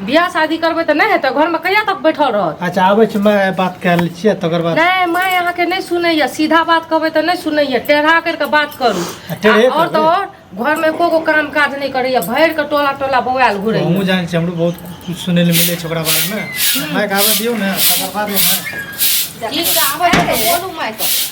बियाह शादी करबै तऽ नहि हेतै घरमे कहिया तक बैठल रहत अच्छा आबै छी माय बात कए लै छियै तकर बाद नहि माय अहाँके नहि सुनैया सीधा बात कहबै तऽ नहि सुनैया टेढ़ा करि कऽ बात करू आ टेढ़े आ आओर तऽ करबै। आओर घरमे एको गो काम काज नहि करैया भरि कऽ टोला टोला बौआल हमहूँ घुरैया जानै छियै हमरो बहुत किछु सुनै लए मिलै छै ओकरा बारेमे मायके आबै दियौ ने तकर बादे ने ठीक छै आबै छै तऽ बोलू माय कऽ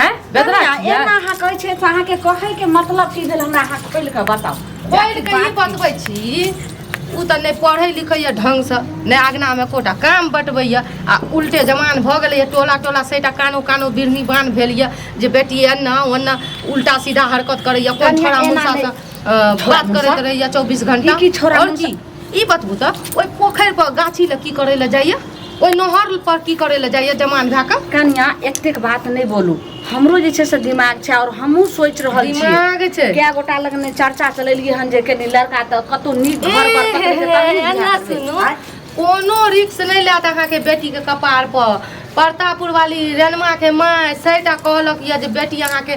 हैं गदरा एना छियै एना अहाँ कहै छियै से अहाँके कहैके मतलब की भेल हमरा अहाँ खोलि कऽ बताउ पढ़ि कऽ ई बतबै छी ओ तऽ नहि पढ़ै लिखैए ढङ्गसँ नहि अगनामे कोटा काम बटबैए आ उल्टे जमान भऽ गेलैए टोला टोला सैटा कानो कानो बिरनी बान भेल यए जे बेटी एन्ना ओन्ना उल्टा सीधा हरकत करैए कोन कनिया छोड़ा एना मुसासँ अ, बात करैत रहैए चौबीस घंटा ई की छोड़ा आओर मुसा- ई बतबू तऽ ओहि पोखरि पर गाछी लए की करै लए जाइए ओहि नहर पर की करै लए जाइए जमान भए कऽ कन्या एतेक बात नहि बोलू हमरो जे छै से दिमाग छै आओर हमहूँ सोचि रहल छी दिमाग छै कए गोटा लग ने चर्चा चलेलियै हन जे कनी लड़का तऽ कतौ नीक घर पर पकड़ै छै, तब ने एना बियाह करतै। सुनू आँय? कोनो रिक्स नहि लेत अहाँके बेटीके कपार पर परतापुर वाली रेणमा के माय सैटा कहलक यऽ जे बेटी अहाँके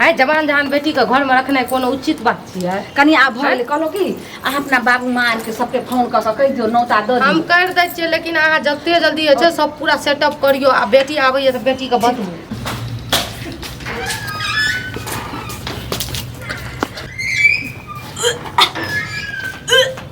आइ जवान जहान बेटी के घर में रखनाइ कोनो उचित बात छियै कनि आब भऽ गेलै कहलहुँ की अहाँ अपना बाबू माँ आरके सबके फोन कऽ कऽ कहि दियौ नौता दऽ हम दियौ कर दै छियै लेकिन अहाँ जते जल्दी होइ छै सब पूरा सेटअप करियो आ बेटी आबैया तऽ बेटी के बतबू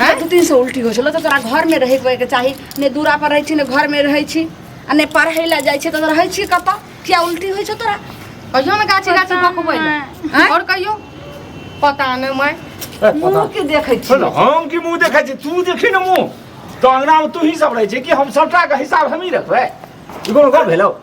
हैं? दू तीन सौ उल्टी हो छलो तो तोरा घर में रहे के के चाही ने दूरा पर रहे छी ने घर में रहे छी आ ने पढ़े ला जाय छी तो रहे छी कत किया उल्टी होय छो तोरा कहियो ना गाछी गाछी पता बकबै नहीं। हैं? और कहियो पता नहीं मैं ए, पता मुंह के देखे छी सुन हम की मुंह देखै छी तू देखी न मुंह तो अंगना में तू ही सब रहै छै कि हम सबटा के हिसाब हमही रखबै ई कोनो गप भेलौ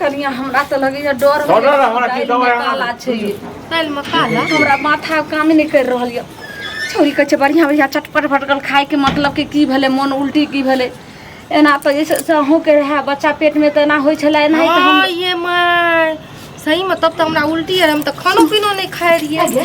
कनिया हमरा तऽ लगैया डर छोड़ो ने, हमरा की दालि दवाइ मे आना काला छै ई। दालि में काला हमरा माथा काम नहि करि रहल यऽ छौरी कहै छै बढ़िआँ बढ़िआँ चटपट भटकल खायके मतलब कि की भेलै मोन उल्टी की भेलै एना तऽ जैसे से अहूँके रहए बच्चा पेटमे तऽ एना होइ छलै एना तऽ हम हाँ, ये माय सही में तब तऽ हमरा उल्टी आर हम तऽ खानो पीनो नहि खाए रहियै आगे।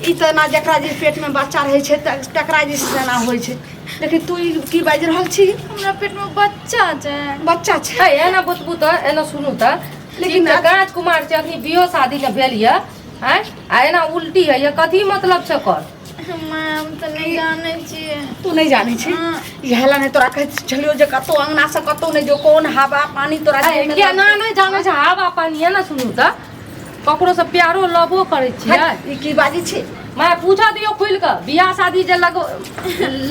ई तऽ एना जकरा जे पेटमे बच्चा रहै छै त- तकरा जे छै से एना होइ छै देखी तू ई की बाजि रहल छी हमरा पेट में बच्चा छै बच्चा छै है एना बतबू तऽ एना सुनू तऽ लेकिन लेकिन तऽ आज- कांच कुमार छै अखनी बियो शादी ने भेल यऽ आँय आ एना उल्टी है ये कथी मतलब छै ओकर हम तऽ नहि जानै छियै तू नहि जानै छी हाँ। इएह लए नहि तोरा कहैत छलियौ जे कतौ अंगना से कतौ नहि जो कोन हवा पानी तोरा अरे, देहमे केना नहि जानै छै हवा पानी एना सुनू तऽ ककरो से प्यारो लबो करै छियै हट, ई की बाजी छै मैं पूछा दियो खुल के बियाह शादी जे लग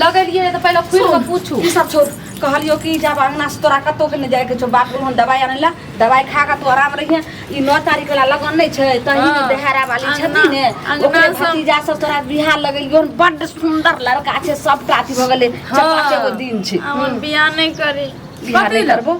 लगेलिए तो पहले खुल के पूछू ई सब छोड़ कहलियो कि जब अंगना से तोरा कतौ के नहि जाए के छौ बाप बोल हम दवाई आनै ला दवाई खा के तू आराम रहिए ई नौ तारीख वाला लगन नहि छै तही में हाँ, देहरा वाली अंगना- छथि ने अंगना ओकरे सब- भतीजा सब तोरा बियाह लगेलियो हन, बड्ड सुंदर लड़का छै सबटा अथी भऽ गेलै हाँ। चार पाँच गो दिन छै हमर बियाह नहि करी बियाह कथी नहि लए? करबो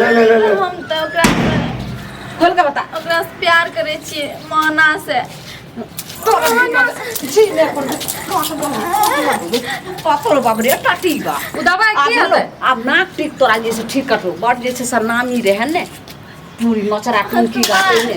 ले ले ले ले हम तऽ ओकरा खोल के बता ओकरा से प्यार करै छियै माना से जी ले अपन पाथर बाप रे टाटी बा ओ दबाइ आब की हेलो, हेतै आब नाक टिक तोरा जे छै ठीक कटलो बड़ जे छै से नामी रहै ने पूरी नचरा टुनकी गाते ने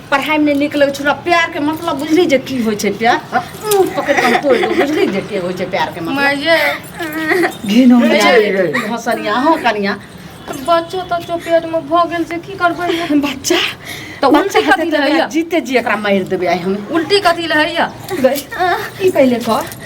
पढ़ाई में निक लगे छोरा प्यार के मतलब बुझली जे की होय छै प्यार मुंह पकड़ के तोड़ दो बुझली जे के होय छै प्यार के मतलब माये घिनो रे, रे। हसनिया हो कनिया बच्चो तच्चो पेट में भऽ गेल से की करबै हम? बच्चा तो बच्चा उल्टी खातिर कथी लहैया? जीते जी एकरा मार देबे आइ हम उल्टी कथी लहैया ई पहिले कर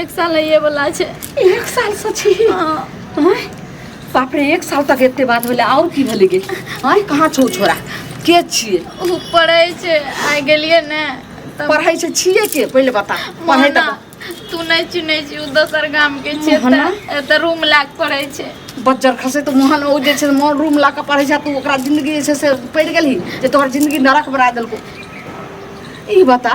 एक साल होइए बला छै एक साल से छी आँय? बाप रे एक साल तक एते बात भेलै आओर की भेलै गे आँय कहाँ छौ छोरा के छियै ओ पढ़ै छै आइ गेलियै ने तब पढ़ै छै छियै के पहिले बता पढ़ै मोहना, तऽ तू नहि चिन्है छी ओ दोसर गाम के छै मोहना? एतऽ- एतऽ रूम लए कऽ पढ़ै छै बज्जर खसे तऽ मोहन ओ जे छै मोन रूम लऽ कऽ पढ़ै छै तू ओकरा जिन्दगी जे छै से पड़ि गेलही जे तोहर जिन्दगी नरक बना देलको ई बता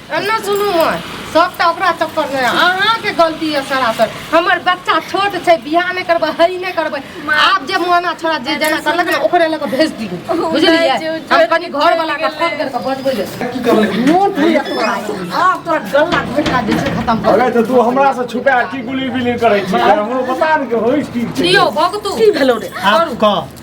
एना सुनू माँ सबटा ओकरा चक्कर में अहाँके गलती है सरासर हमर बच्चा छोट छै बियाह नहि करबै हई नहि करबै आब जे मोहना छोड़ा जे जेना करलक ने ओकरे लऽ कऽ भेज दियौ बुझलियै हम कनि घर वाला के फोन कर कऽ बजबै ले की करलक मोन भूल तोरा आब तोरा गला घोटा जे छै खत्म कर अरे तऽ तू हमरा से छुपा की गुली बिली करै छी हमरो पता नहि कि होइस की छै दियौ भगतू की भेलौ रे आब कह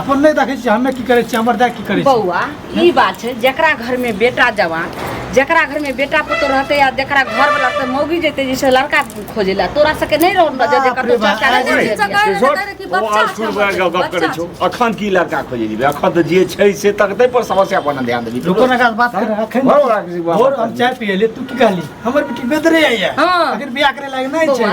अपन नहीं देखे छी हमें की करे छी हमर दाय की करे बउआ ई बात छै जकरा घर में बेटा जवान जकरा घर में बेटा पुतो रहते या जकरा घर वाला से मौगी जेते जैसे लड़का खोजे ला तोरा सके नहीं रहो ना जे कतो चाचा करे छो अखन की लड़का खोजे दी अखन त जे छै से तकते पर समस्या पर ध्यान देबी रुको ना गाल बात करे अखन और हम चाय पिए ले तू की कहली हमर बेटी बेदरे आइया अगर बियाह करे लागे नहीं छै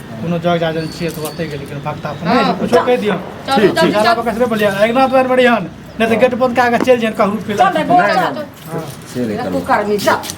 कोनो जग जाजन छियै तऽ ओतै गेली कोनो भक्ता फोन हँ, नहि कुछो जा। कहि दियौ चलू, ठीक चलू, ठीक चलू। बाबा कसरे बोलिया अगिला बार बढ़िया नहि तऽ गेट बंद कए कऽ चलि जाइन कहू फिर चल रे, बोल, चल। चल रे, कुकर्मी, चल।